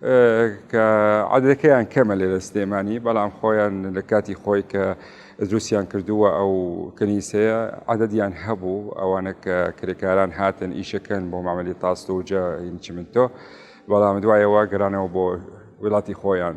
کە عادەکەیان کەمە لێرە سلێمانی بەڵام خۆیان لە کاتی خۆی کە دروستیان کردووە ئەو کنیسەیە عادەدیان هەبوو ئەوانە کە کرێکاران هاتن ئیشەکەن بۆ مامەلی تاستوجە هینچمنتۆ بەڵام دوایەوە گەرانەوە بۆ وڵاتی خۆیان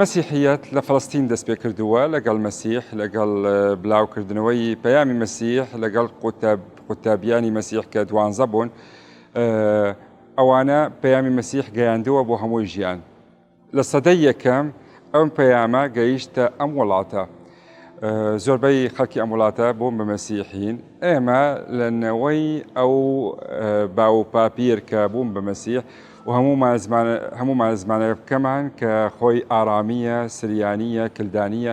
مەسیحیەت لە فەڵستین دەست پێ کردووە لەگەڵ مەسیح لەگەڵ بلاوکردنەوەی پەیامی مەسیح لەگەڵ قوتابیانی مەسیح کە دوانزە بوون ئەوانە پەیامی مەسیح گەیاندووە بۆ هەمووی ژیان لە سەدەی یەکەم ئەم پەیامە گەیشتە ئەم وڵاتە. زۆربەی خەڵکی ئەم وڵاتە بوون بە مەسیحین ئێمە لە نەوەی ئەو باو و پاپیر کە بوون بە مەسیح و هەموو مازمانەکەمان کە خۆی ئارامیە سریانیە کلدانیە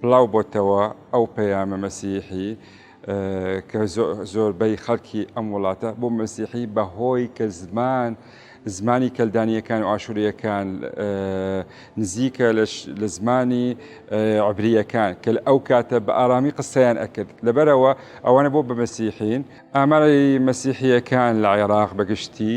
بڵاو بۆتەوە ئەو پەیامە مەسیحی کە زۆربەی خەڵکی ئەم وڵاتە بۆ مەسیحی بەهۆی کە زمان زمانی کەلدانیەکان و ئاشوریەکان نزیکە لە زمانی عبریەکان کە ئەو کاتە بە ئارامی قسەیان ئەکرد لەبەرەوە ئەوانە بۆ بە مەسیحین ئاماری مەسیحیەکان لە عێراق بەگشتی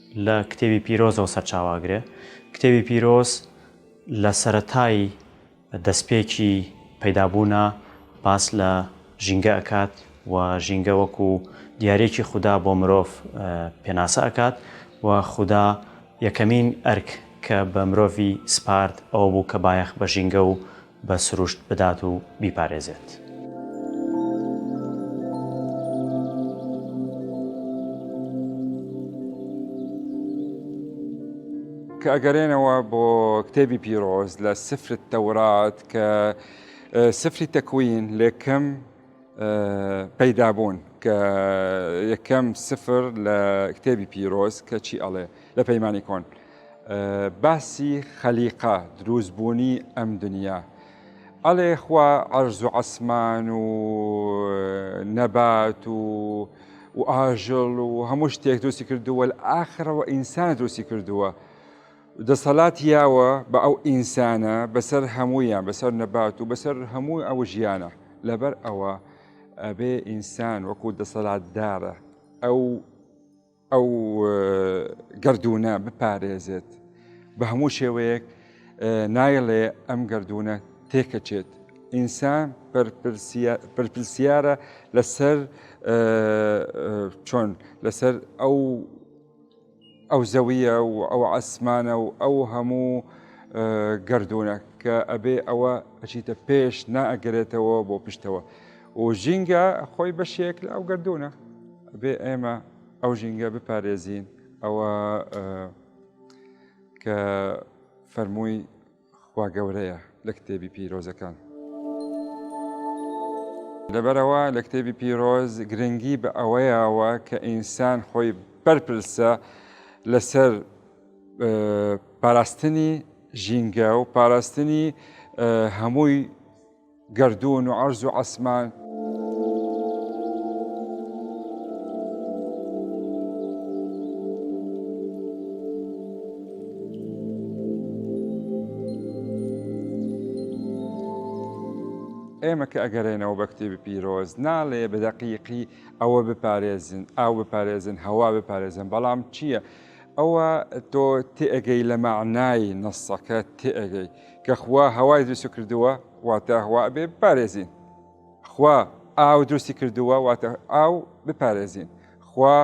لە کتێبی پیرۆزەوە سەرچاوە ئەگرێ. کتێبی پیرۆز لە سەرەتای دەستپێکی پەیدابوونا باس لە ژینگە ئەکات و ژینگە وەکو دیارێکی خودا بۆ مرۆڤ پێناسە ئەکات و خودا یەکەمین ئەرک کە بە مرۆڤی سپارد ئەوە بوو کە بایەخ بە ژینگە و بە سروشت بدات و بیپارێزێت. کە ئەگەرێنەوە بۆ کتێبی پیرۆز لە سفر تەورات کە سفری تەکوین لێکم پەیدا بوون کە یەکەم سفر لە کتێبی پیرۆز کە چی ئەڵێ لە پەیمانی کۆن باسی خەلیقا دروستبوونی ئەم دنیا ئەڵێ خوا ئەرز و عەسمان و نەبات و و ئاژڵ و هەموو شتێک دروستی کردووە ئاخرەوە ئینسان دروستی کردووە دەسەلات یاوە بە ئەو ئینسانە بەسەر هەموویان بەسەر نەبات و بەسەر هەموو ئەو ژیانە لەبەر ئەوە ئەبێ ئینسان وەکو دەسەلاتدارە ئەو ئەو گردونە بپارێزێت بە هەموو شێوەیەک نایڵێ ئەم گردونە تێکەچێت ئینسان پرپسیارە لەسەر چۆن لەسەر ئەو ئەو زەویە و ئەو عەسمانە و ئەو هەموو گردونە کە ئەبێ ئەوە ئەچیتە پێش نائەگەرێتەوە بۆ پشتەوە و ژینگە خۆی بەشێک لە ئەو گردونە بێ ئێمە ئەو ژینگە بپارێزین ئەوە کە فەرمووی خوا گەورەیە لە کتێبی پیرۆزەکان. لەبەرەوە لە کتێبی پیرۆز گرنگی بە ئەوەیەوە کە ئینسان خۆی بەرپرسە لەسەر پاراستنی ژینگە و پاراستنی هەمووی گەردوون و عەرز و عەسمان. ئێمە کە ئەگەرێنەوە بە کتێبی پیرۆز ناڵێ بە دەقیقی ئەوە بپارێزن ئاو بپارێزن هەوا بپارێزن بەڵام چییە؟ ئەوە تۆ تێگەی لە مەعنای نەسەکە تێگەی. کە خوا هەوای دروست کردووە واتە هەوا ئەبێ بپارێزین خوا ئاو دروستی کردووە واتە ئاو بپارێزین خوا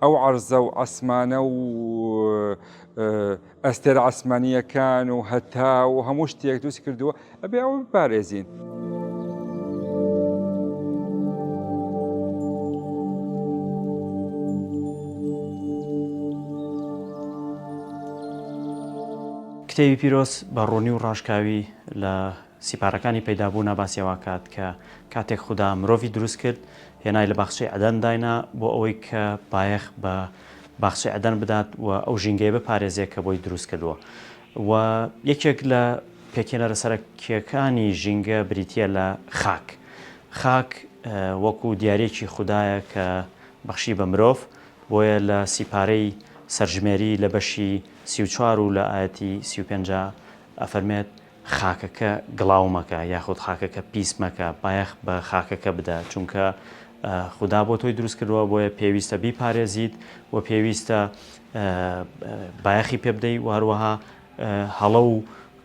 ئەو عرضە و ئەسمانە و ئەستێر ئاسمانیەکان و هەتا و هەموو شتێک دروست کردووە ئەبێ ئەو بپارێزین. کتێبی پیرۆز بە ڕوونی و ڕاشکاوی لە سیپارەکانی پەیدابوونا باسی ئەوە ئەکات کە کاتێک خودا مرۆڤی دروست کرد هێنای لە باخچەی عەدەن داینا بۆ ئەوەی کە بایەخ بە باخچەی عەدەن بدات و ئەو ژینگەیە بپارێزێ کە بۆی دروست کردووە و یەکێک لە پێکهێنەرە سەرەکییەکانی ژینگە بریتییە لە خاک خاک وەکوو دیارییەکی خودایە کە بەخشی بە مرۆڤ بۆیە لە سیپارەی سەرژمێری لە بەشی سی و چوار و لە ئایەتی سی و پێنج ئەفەرمێت، خاکەکە گڵاو مەکە یاخود خاکەکە پیس مەکە، بایەخ بە خاکەکە بدە، چونکە خودا بۆ تۆی دروست کردووە، بۆیە پێویستە بیپارێزیت و پێویستە بایەخی پێبدەی و هەروەها هەڵە و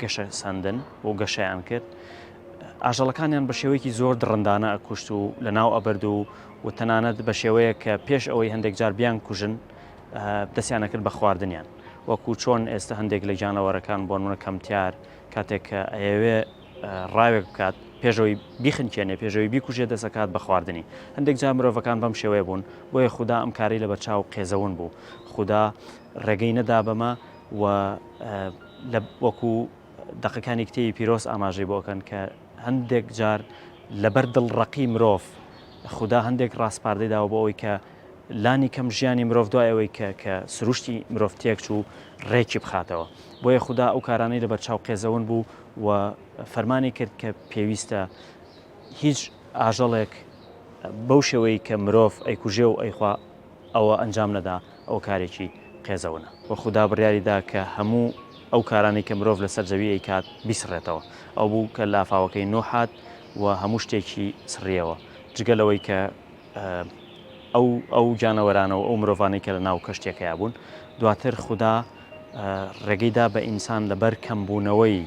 گەشەسەندن و گەشەیان کرد، ئاژەڵەکانیان بە شێوەیەکی زۆر دڕندانە ئەکوشت و لەناو ئەبرد و و تەنانەت بە شێوەیە کە پێش ئەوەی هەندێک جار بیان کوژن دەستیان ئەکرد بە خواردنیان وەکو چۆن ئێستە هەندێک لە گیانەوەرەکان بۆ نمونە کەمتیار کاتێک کە ئەیەوێ ڕاوێک بکات پێشەوەی بیخنکێنێ پێشەوەی بیکوژێ دەسەکات بە خواردنی هەندێک جار مرۆڤەکان بەم شێوەیە بوون بۆیە خوددا ئەم کاری لە بەرچاو قێزەون بوو خوددا ڕێگەی نەدا بەمە و لە وەکو دەقەکانی کتێبی پیرۆز ئاماژەی بۆ ئەکەن کە هەندێک جار لەبەر دڵڕەقی مرۆڤ خودا هەندێک ڕاسپاردەی داوە بۆ ئەوەی کە لانی کەم ژیانی مرۆڤ دوای ئەوەی کە کە سروشتی مرۆڤ تێک چوو ڕێکی بخاتەوە بۆیە خودا ئەو کارانەی لە بەرچاو قێزەون بوو و فەرمانی کرد کە پێویستە هیچ ئاژەڵێک بەو شێوەی کە مرۆڤ ئەیکوژێ و ئەیخوا ئەوە ئەنجام نەدا ئەوە کارێکی قێزەونە. وە خودا بڕیاری دا کە هەموو ئەو کارانەی کە مرۆڤ لەسەر زەوی ئەیکات بیسڕێتەوە. ئەو بوو کە لافاوەکەی نوح هات و هەموو شتێکی سڕیەوە جگە لەوەی کە ئەو ئەو گیانەوەرانە و ئەو مرۆڤانەی کە لەناو کەشتیەکەیا بوون. دواتر خودا. ڕێگەی دا بە ئینسان لەبەر کەمبوونەوەی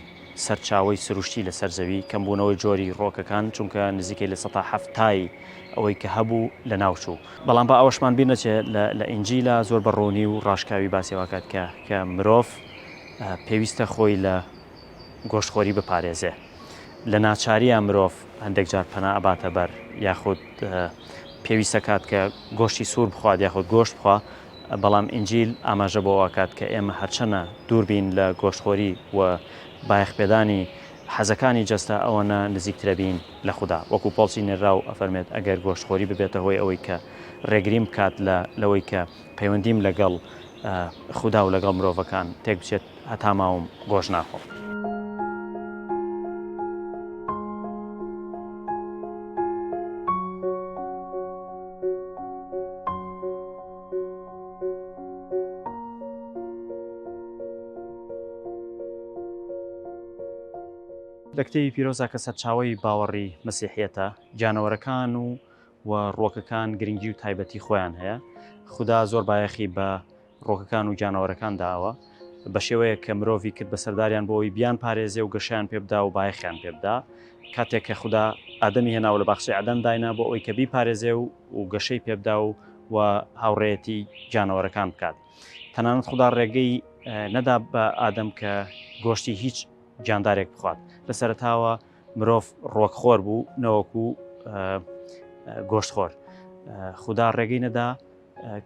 سەرچاوەی سروشتی لەسەر زەوی، کەمبوونەوەی جۆری ڕۆکەکان، چونکە نزیکەی لە سەتا حەفتای ئەوەی کە هەبوو لەناوچوو. بەڵام با ئەوەشمان بیر نەچێ لە ئینجیلا زۆر بە ڕوونی و ڕاشکاوی باسی ئەوە کات کە کە مرۆڤ پێویستە خۆی لە گۆشتخۆری بپارێزێ. لە ناچارییە مرۆڤ هەندێک جار پەنا ئەباتە بەر یاخود پێویست ئەکات کە گۆشتی سوور بخوات یاخود گۆشت بخوا، بەڵام ئینجیل ئاماژە بەوە ئەکات کە ئێمە هەرچەنە دوور بین لە گۆشتخۆری و بایەخ پێدانی حەزەکانی جەستە ئەوەنە نزیکترە بین لە خودا. وەکو پۆڵسی نێرراو ئەفەرمێت ئەگەر گۆشتخۆری ببێتە هۆی ئەوەی کە ڕێگریم بکات لە لەوەی کە پەیوەندیم لەگەڵ خودا و لەگەڵ مرۆڤەکان تێک بچێت، هەتا ماوم گۆشت ناخۆم. لە کتێبی پیرۆزدا کە سەرچاوەی باوەڕی مەسیحیەتە، گیانەوەرەکان و و ڕوەکەکان گرنگی و تایبەتی خۆیان هەیە خودا زۆر بایەخی بە ڕوەکەکان و گیانەوەرەکان داوە بەشێوەیە کە مرۆڤی کرد بەسەرداریان بۆ ئەوی بیان پارێزێ و گەشیان پێبدا و بایەخیان پێبدا کاتێک کە خودا ئادەمی هێناوە لە باخچەی عدەن داینا بۆ ئەوی کە بی پارێزێ و و گەشەی پێبدا و و هاوڕێتی گیانەوەرەکان بکات تەنانەت خودا ڕێگەی نەدا بە ئادەم کە گۆشتی هیچ گیاندارێک بخوات لە سەرتاوە مرۆڤ ڕۆک خۆر بوو نەوەکو گۆشت خۆر خودا ڕێگەی نەدا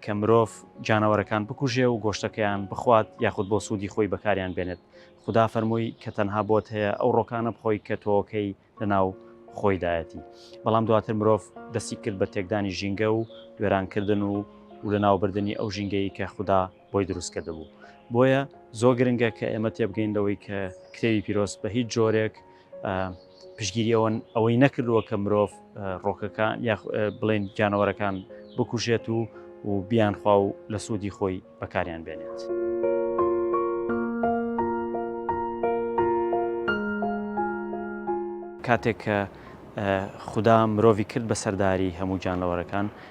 کە مرۆڤ جانەوەرەکان بکوژێ و گۆشتەکەیان بخوات یاخود بۆ سوودی خۆی بەکاریان بێنێت خدا فەرمووی کە تەنها بۆت هەیە ئەو ڕۆکانە بخۆی کە تۆکەی لەناو خۆیدایەتی بەڵام دواتر مرۆڤ دەستی کرد بە تێکدانی ژینگە و وێرانکردن و و لە ناوبردننی ئەو ژینگەی کە خوددا بۆی دروست کردبوو بۆیە زۆر گرنگە کە ئێمە تێبگەین لەوەی کە کتێوی پیرۆست بە هیچ جۆرێک پشگیری ئەوەن ئەوەی نەکردووە کە مرۆڤ ڕۆکەکان یا بڵێن جانەوەرەکان بکوژێت و و بیان خوا و لە سوودی خۆی بەکاریان بێنێت. کاتێک کە خودا مرۆڤی کرد بە سەرداری هەموو جانەوەرەکان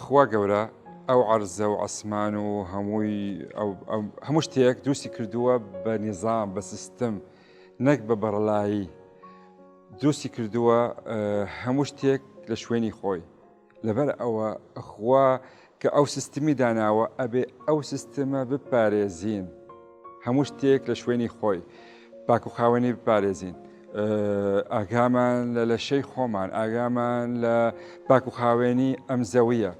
خوا گەورە ئەو عەرزە و عسمان و هەمووی هەموو شتێک دروستی کردووە بە نیزان بە سیستم نەک بە بەڕلایی دروستی کردووە هەموو شتێک لە شوێنی خۆی لەبەر ئەوە خوا کە ئەو سیستمی داناوە ئەبێ ئەو سیستمە بپارێزین هەموو شتێک لە شوێنی خۆی پاک و خاوەنی بپارێزین ئاگامان لە لەشەی خۆمان ئاگامان لە پاک و خاوێنی ئەم زەویە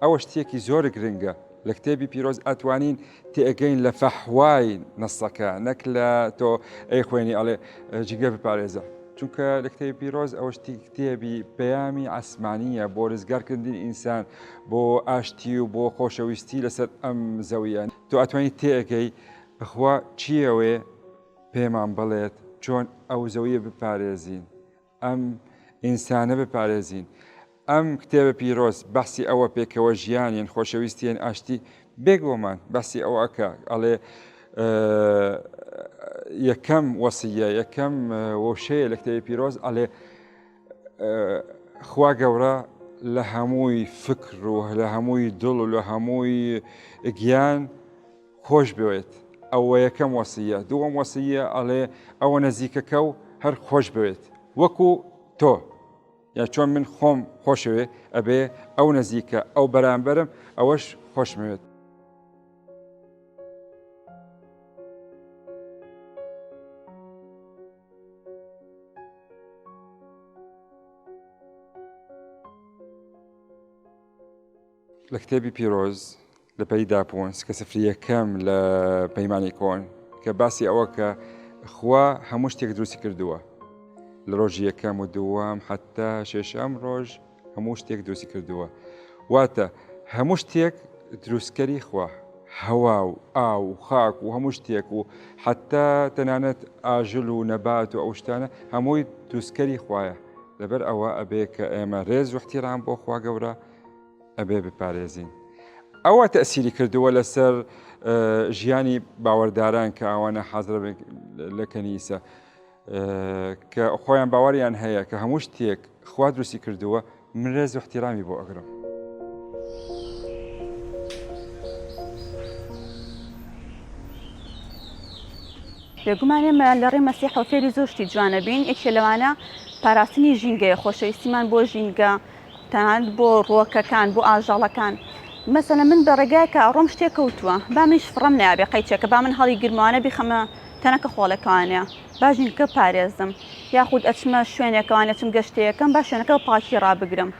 ئەوە شتێکی زۆر گرنگە لە کتێبی پیرۆز ئەتوانین تێگەین لە فەحوای نەسەکە نەک لە تۆ ئەی خوێنی ئەڵێ جگە بپارێزە چونکە لە کتێبی پیرۆز ئەوشتی کتێبی پەیامی ئاسمانیە بۆ ڕزگارکردنی ئینسان بۆ ئاشتی و بۆ خۆشەویستی لەسەر ئەم زەویان تۆ ئەتوانی تێگەی بخوا چیەوەێ پێمان بڵێت چۆن ئەو زەویە بپارێزین ئەم ئینسانە بپارێزین. ئەم کتێبە پیرۆز بەحسی ئەوە پێکەوە ژیان یەن خۆشەویستی یەن ئاشتی بێک بۆمان بەحسی ئەوە ئەکە ئەڵێ یەکەم وەسیە یەکەم وەشەیە لە کتێبی پیرۆز ئەلێ خوا گەورە لە هەمووی فکر و لە هەمووی دڵ و لە هەمووی گیان خۆش بوێت ئەوەیەکەم وەسیە دووەم وەسیە ئەڵێ ئەوە نەزیکەکە و هەر خۆش بوێت وەکو تۆ یا چۆن من خۆم خۆشەوێ ئەبێ ئەو نەزیکە ئەو بەرامبەرم ئەوەش خۆشمەوێت لە کتێبی پیرۆز لە پەلی داپۆنس کە سفرییەکەم لە پەیمانی کۆن کە باسی ئەوە کە خوا هەموو شتێک دروستی کردووە لە ڕۆژی یەکەم و دووەم حتا شێشەم ڕۆژ هەموو شتێک دروستی کردووە واتە هەموو شتێک دروستکەری خوا هەوا و ئا و خاک و هەموو شتێک و حتا تەنانەت ئاژل و نەبات و ئەو شتانە هەمووی دروستکەری خوایە لەبەر ئەوە ئەبێ کە ئێمە ڕێز وحتیران بۆ خوا گەورە ئەبێ بپارێزین. ئەوە تەسیری کردووە لەسەر ژیانی باوەەرداران کە ئەوانە حەزرە لە کەنیسە کە خۆیان باوەڕیان هەیە کە هەموو شتێک خوا دروستی کردووە من رێز و احتیرامی بۆ ئەگرم. بێگومان ئێمە لە ڕێ مەسیحەوە فێری زۆر شتی جوانە بین یەکێ لەوانە پاراستنی ژینگەیە خۆشەویستیمان بۆ ژینگە تەنانەت بۆ ڕووەکەکان بۆ ئاژەڵەکان مەسەلەن من بە ڕێگایەکە ئەڕۆم شتێک کەوتووە با منیش فڕەم نایابێ قەیچەکە با من هەڵی گرمەوانە بیخەمە تەنەکە خۆڵەکەوانێ با ژینکە پارێزم یاخود ئەچمە شوێنێکەوان ئەچم گەشتەیەکەم با شوێنەکە پاکی ڕابگرم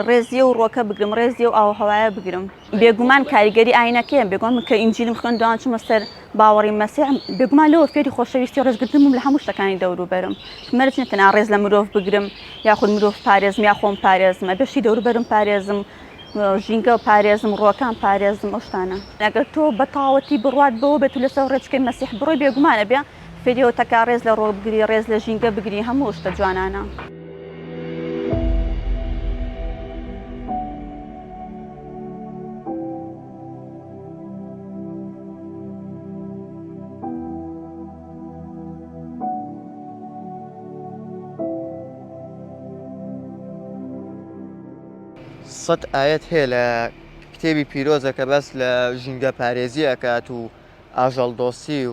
ڕێزیە و ڕووەکە بگرم ڕێزیە و ئاوهەوایە بگرم. بێگومان کاریگەری ئاینەکەیە، بێگومان من کە ئینجیلم خوێندەوە چوومە سەر باوەڕی مەسیح، بێگومان لەوە فێری خۆشەویستی و ڕێزگرتن بووم لە هەموو شتەکانی دەوروبەرم، مەرج نییە تەنها ڕێز لە مرۆڤ بگرم یاخود مرۆڤ پارێزم یا خۆم پارێزم، ئەبێت شتی دەوروبەرم پارێزم، ژینگە پارێزم، ڕووەکان پارێزم، ئەو شتانە. ئەگەر تۆ بە تەواوەتی بڕوات بەوە بێت و لەسەر ڕێچکەی مەسیح بڕۆی، بێگومان ئەبێت فیدیۆ تکا ڕێز لە ڕۆڵ بگری ڕێز لە ژینگە بگری هەموو شتە جوانانە. سەد ئایەت هەیە لە کتێبی پیرۆزە کە باس لە ژینگە پارێزی ئەکات و ئاژەڵ دۆستی و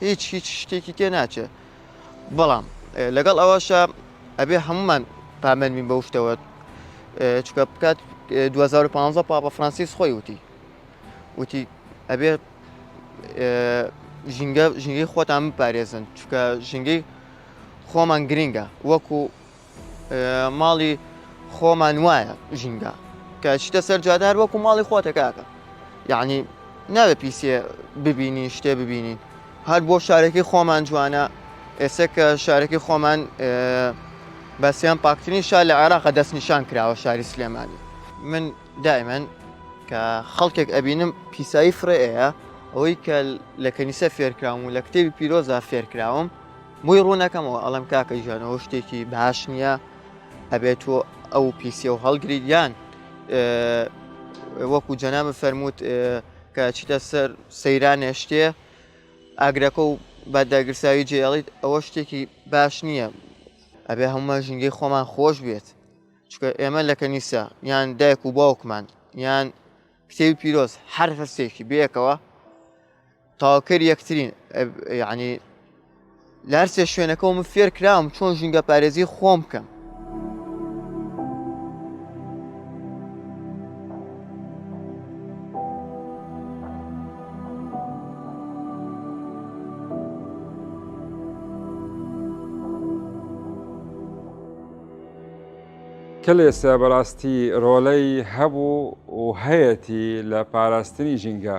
هیچ هیچ شتێکی تێ ناچێت بەڵام لەگەڵ ئەوەشە ئەبێ هەمومان پامەن بین بەو شتەوە چکە بکات 2015 پاپە فرانسیس خۆی وتی وتی ئەبێ ژینگە ژینگەی خۆتان بپارێزن چکە ژینگەی خۆمان گرنگە وەکو ماڵی خۆمان وایە ژینگە کە شتە سەر جادار وەکو ماڵی خۆتە کاکە یعنی ناوێ پیسێ ببینی شتێ ببینین هەر بۆ شارەکەی خۆمان جوانە ئێستا کە شارەکەی خۆمان بەسیان پاکترین شار لە عێراقە دەست نیشان کراوە شاری سلێمانی من دائمەن کە خەڵکێک ئەبینم پیسایی فرەیە ئەوەی کە لە کەنیسە فێرکراوم و لە کتێبی پیرۆزا فێرکراوم بۆی ڕوونەکەمەوە ئەڵێم کاکە گیان ئەوە شتێکی باش نییە ئەبێت تۆ ئەو پیسیە و هەڵگریت یان وەکو جەنابە فەرمووت کە چیتە سەر سەیرانێ شتێ ئاگرەکە و بە داگرساوی جێڵیت ئەوە شتێکی باش نییە ئەبێ هەمومە ژینگەی خۆمان خۆش بێت چکە ئێمە لە کەنیسە یان دایک و باوکمان یان کتێوی پیرۆز هەر هەستێکی بەیەکەوە تاوەکەری یەکترین یعنی لە هەرسێ شوێنەکەەوە من فێر کراوم چۆن ژینگە پارێزی خۆم بکەم کلێسە بەڕاستی ڕۆلەی هەبوو و هەیەی لە پاراستنی ژینگە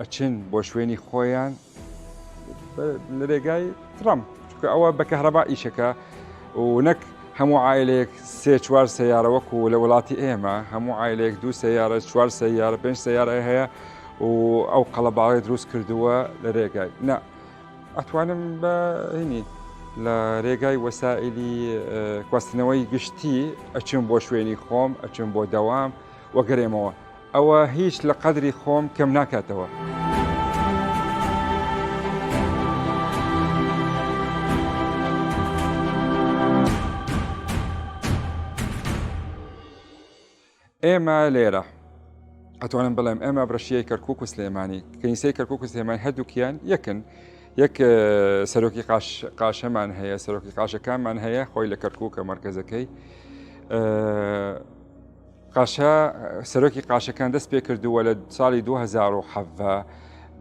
ئەچن بۆ شوێنی خۆیان لە رێگای ترامپ چکە ئەوە بە کەهرەبا ئیشەکە و نەک هەموو عیلێک سێ چوار سیارە وەکو لە وڵاتی ئێمە هەموو عیلێک دوو سیارە چوار سیارە پێنج سیارە هەیە و ئەو قەڵەباڵی دروست کردووە لە رێگای نە ئەتوانم بە هینی لە رێگای وەسائلی کواستنەوەی گشتی ئەچم بۆ شوێنی خۆم ئەچم بۆ دەوام وەگەرێمەوە ئەوە هیچ لە قەدری خۆم کەم ناکاتەوە. ئێمە لێرە ئەتوانم بڵێم ئێمە بڕشیەی کەرکک و سلێمانی کەنیسەی کەرکک و سلێمانی هەردووکیان یەکن یەک سەرۆکی قاشەمان هەیە سەرۆکی قاشەکانمان هەیە خۆی لە کەرکک و کە مرکزەکەی قاشە، سەرۆکی قاشەکان دەست پێ کردووە لە ساڵی 2017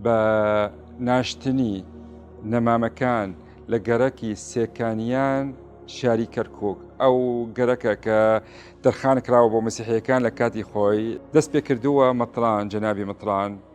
بە ناشتنی نەمامەکان لە گەڕەکی سێکانیان شاری کەرکک ئەو گەرەکە کە دەرخان کراوە بۆ مسیحەکان لە کاتی خۆی دەست پێ کردووە مەتران جەنابی مەتران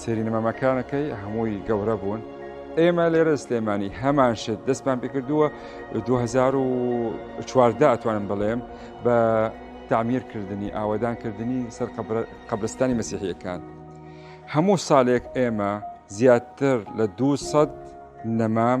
سێری نمەمەکانەکەی هەمووی گەورە بوون ئێمە لێرە سلێمانی هەمان شت دەستمان پێکردووە 2014 ئەتوانم بڵێم بە تعمیرکردنی ئاوادانکردنی سەر قبرستانی مەسیحیەکان هەموو ساڵێک ئێمە زیاتر لە 200 نەمام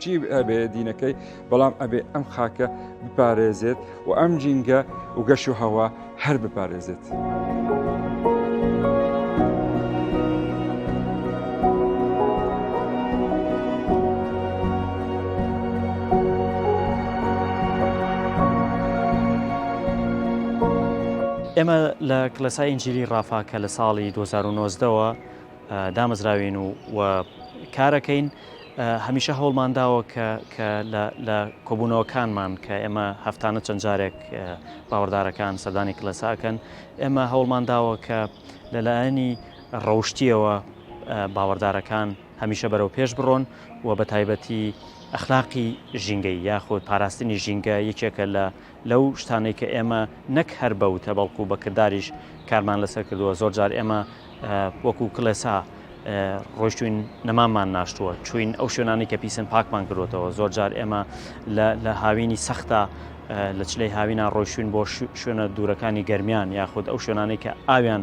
چی ئەبێ دینەکەی بەڵام ئەبێ ئەم خاکە بپارێزێت و ئەم جینگە و گەش و هەوا هەر بپارێزێت. ئێمە لە کلەسای ئنجلی ڕافا کە لە ساڵی 2009ەوە دامەزراوین و و کارەکەین هەمیشە هەوڵمان داوە کە کە لە کۆبوونەوەکانمان کە ئێمە هەفتانە چەند جارێک باوەڕدارەکان سەردانی کلەساکەن ئێمە هەوڵمان داوە کە لەلایەنی ڕەوشتیەوە باوەڕدارەکان هەمیشە بەرەو پێش بڕۆن و بە تایبەتی ئەخلاقی ژینگەی یاخود پاراستنی ژینگە یەکێکە لە لەو شتانەی کە ئێمە نەک هەر بە وتە بەڵکو بە کرداریش کارمان لەسەر کردووە زۆر جار ئێمە وەکو کلێسا ڕۆشتوین نەمامان ناشتووە چوین ئەو شوێنانی کە پیسن پاکمان کردوتەوە زۆر جار ئێمە لە هاوینی سەختە لە چلەی هاوینا ڕۆشتوین بۆ شوێنە دوورەکانی گەرمیان یاخود ئەو شوێنانی کە ئاویان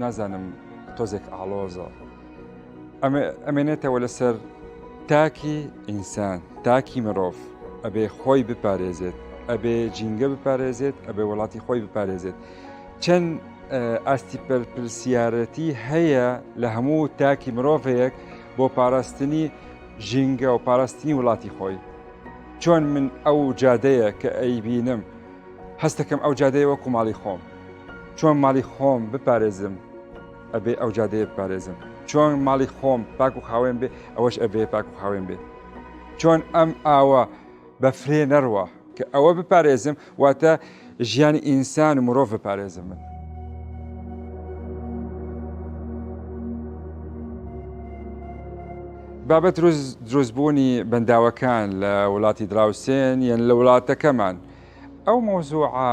نازانم تۆزێک ئاڵۆزە ئەمێنێتەوە لەسەر تاکی ئینسان تاکی مرۆڤ ئەبێ خۆی بپارێزێت ئەبێ جینگە بپارێزێت ئەبێ وڵاتی خۆی بپارێزێت چەند ئاستی پرسیارەتی هەیە لە هەموو تاکی مرۆڤەیەک بۆ پاراستنی ژینگە و پاراستنی وڵاتی خۆی چۆن من ئەو جادەیە کە ئەیبینم هەستەکەم ئەو جادەیە وەکو ماڵی خۆم چۆن ماڵی خۆم بپارێزم ئەبێ ئەو جادەیە بپارێزم چۆن ماڵی خۆم پاک و خاوێن بێ ئەوەش ئەبێ پاک و خاوێن بێ چۆن ئەم ئاوە بە فرێ نەڕوە کە ئەوە بپارێزم واتە ژیانی ئینسان و مرۆڤ بپارێزم من بابەت دروستبوونی بەنداوەکان لە وڵاتی دراوسێن یەن لە وڵاتەکەمان ئەو مۆزوعە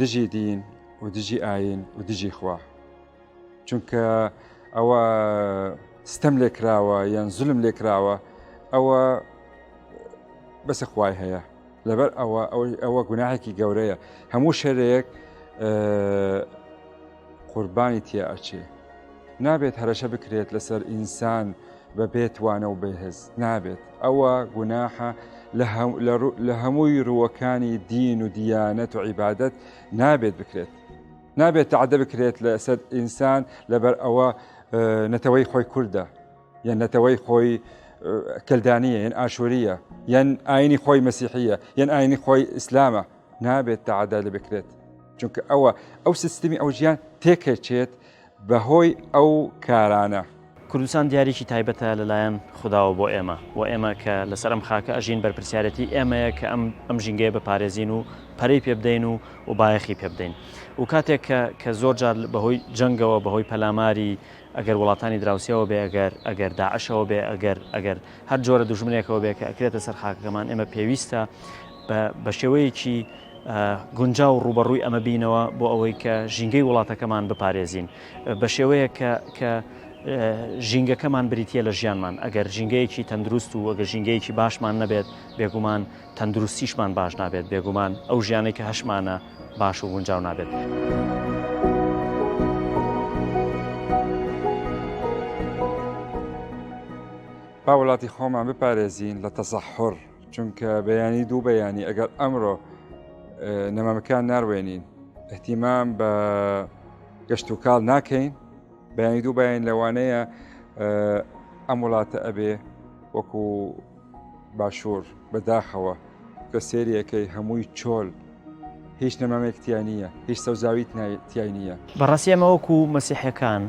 دژی دین و دژی ئاین و دژی خوا چونکە ئەوە ستەم لێکراوە یان زلم لێکراوە ئەوە بەسە خوای هەیە لەبەر ئەوە ئەوەی ئەوە گوناهێکی گەورەیە هەموو شەرەیەک قوربانی تیا ئەچێ نابێت هەرەشە بکرێت لەسەر ئینسان بە بێتوانە و بەهێز نابێت ئەوە گوناحە لە هەمووی ڕووەکانی دین و دیانەت و عیبادت نابێت بکرێت نابێت تعدە بکرێت لە سەر ئینسان لەبەر ئەوە نەتەوەی خۆی کووردە یان نەتەوەی خۆی کلدانیە یان ئاشووریە یان ئاینی خۆی مەسیحیە یان ئاینی خۆی ئیسلامە نابێت تەعادا لێ بکرێت چونکە ئەوە ئەو سیستمی ئەو ژیان تێکەچێت بەهۆی ئەو کارانە. کوردستان دیارێکی تایبەتە لەلایەن خوداوە بۆ ئێمە و ئێمە کە لەسەر ئەم خاکە ئەژین بەرپرسیارەتی ئێمەیە کە ئەم ئەم ژینگەیە بپارێزین و پەرەی پێ بدەین و و بایەخی پێ بدەین و کاتێک کە کە زۆر جار بەهۆی جەنگەوە بەهۆی پەلاماری ئەگەر وڵاتانی دراوسیەوە بێ ئەگەر ئەگەر داعشەوە بێ ئەگەر ئەگەر هەر جۆرە دوژمنێکەوە بێ کە ئەکرێتە سەر خاکەکەمان ئێمە پێویستە بە بە شێوەیەکی گونجاو ڕوبەڕووی ئەمە بینەوە بۆ ئەوەی کە ژینگەی وڵاتەکەمان بپارێزین بە شێوەیە کە کە ژینگەکەمان بریتە لە ژیانمان ئەگەر ژینگەیەکی تەندروست و ئەگە ژینگەیەکی باشمان نەبێت بێگومان تەندروستیشمان باش نابێت بێگومان ئەو ژیانەی کە هەشمانە باش و گونجاو نابێت. با وڵاتی خۆمان بپارێزین لە تەسەحڕ چونکە بەیانی دوو بەیانی ئەگەر ئەمڕۆ نەمامەکان ناروێنین احتیمام بە گەشت و کاڵ ناکەین بەیانی دوو بەیان لەوانەیە ئەم وڵاتە ئەبێ وەکو باشوور بەداخەوە کە سێریەکەی هەمووی چۆل هیچ نەمامێک تیا نییە هیچ سەوزاوی تای نییە بەڕاستی ئەمە وەکو مەسیحەکان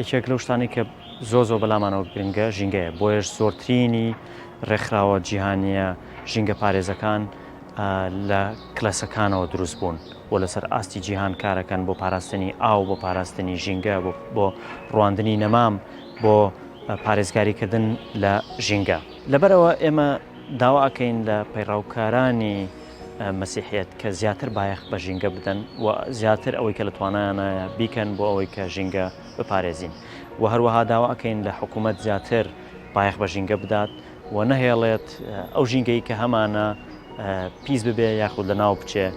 یەکێک لەو شتانی کە زۆ زۆ بەلامانەوە گرنگە ژینگەیە بۆیش زۆرترینی ڕێکخراوە جیهانیە ژینگە پارێزەکان لە کلەسەکانەوە دروست بوون بۆ لەسەر ئاستی جیهان کارەکەن بۆ پاراستنی ئاو بۆ پاراستنی ژینگە بۆ ڕواندنی نەمام بۆ پارێزگاریکردن لە ژینگە لەبەرەوە ئێمە داوا ئەکەین لە پەیڕەوکارانی مەسیحیەت کە زیاتر بایەخ بە ژینگە بدەن و زیاتر ئەوەی کە لە توانایانایە بیکەن بۆ ئەوەی کە ژینگە بپارێزین و هەروەها داوا ئەکەین لە حکوومەت زیاتر بایەخ بە ژینگە بدات و نەهێڵێت ئەو ژینگەی کە هەمانە پیس ببێ یاخود لە ناو بچێ.